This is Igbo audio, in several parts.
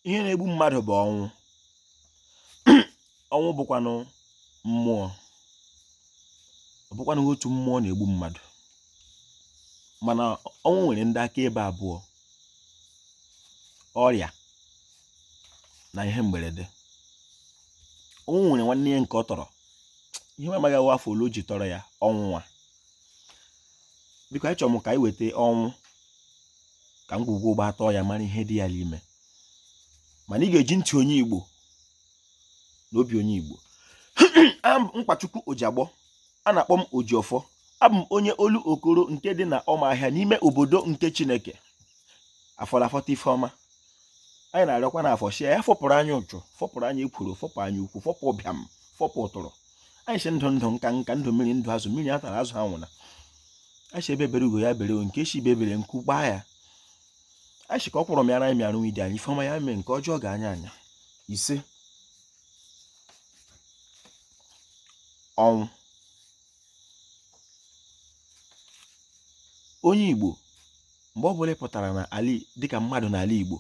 ihe na-egbu mmadụ bụ ọnwụ ọnwụ bụkwanụ mmụọ ọ bụkwanụ otu mmụọ na-egbu mmadụ mana ọnwụ nwere ndị akaebe abụọ ọrịa na ihe mberede ọnwụ nwere nwanne ya nke ọ tọrọ ihe m amaghị wụ afọ ole o ji tọrọ ya ọnwụnwa biko achọrọ m ka anyị weta ọnwụ ka ngwugwu ụgba atọọ ya mara ihe dị ya n'ime mana ị ga-eji ntị onye Igbo na obi onye Igbo Nkwachukwu Ojiagbọ a na-akpọ m Ojiọfọ abụ m onye Olokoro nke dị na Ọmahịa n'ime obodo nke Chineke afọ la-afọta ife ọma anyị na-arịọkwa na afọ shie ya fọpụrụ anyị ụchụ fọpụrụ anyị ekworo fọpụ anya ukwu fọpụ ụbịam fọpụ ụtụrụ anyị si ndụ ndụ nka nka ndụ mmiri ndụ azụ mmiri atala azụ anwụna anyị si egbe bere ugo ya bere nke si ibe ebela nku kwaa ya anyị si ka ọkwụrụ mịara anyị mịara nwidi anyị ife ọma ya mee nke ọjọọ gaa anya anya ise ọnwụ onye Igbo mgbe ọ bụla ị pụtara na ali dịka mmadụ n'ala Igbo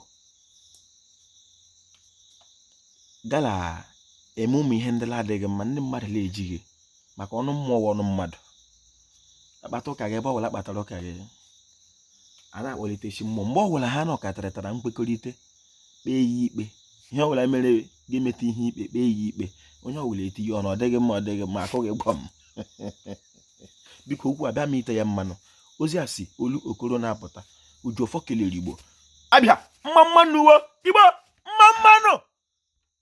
gala eme ụmụ ihe ndị na-adịghị mma ndị mmadụ na-ejighị maka ọnụ mmụọ ọnụ mmadụ a kpata ụka gị ebe ọ bụla a kpatara ụka gị a na-akpọlite chi mmụọ mgbe ọ bụla ha nọkọtara nkwekọrịta kpee ya ikpe ihe ọ bụla mere gị meta ihe ikpe kpee ya ikpe onye ọ bụla etinye ọnụ ọ dịghị mma ọ dịghị mma akụọ gị gbam biko okwu abịa m tee ya mmanụ ozi a si Olokoro na-apụta Ojiọfọ kelere Igbo Abịa mma mma nụ Igbo mma mma nụ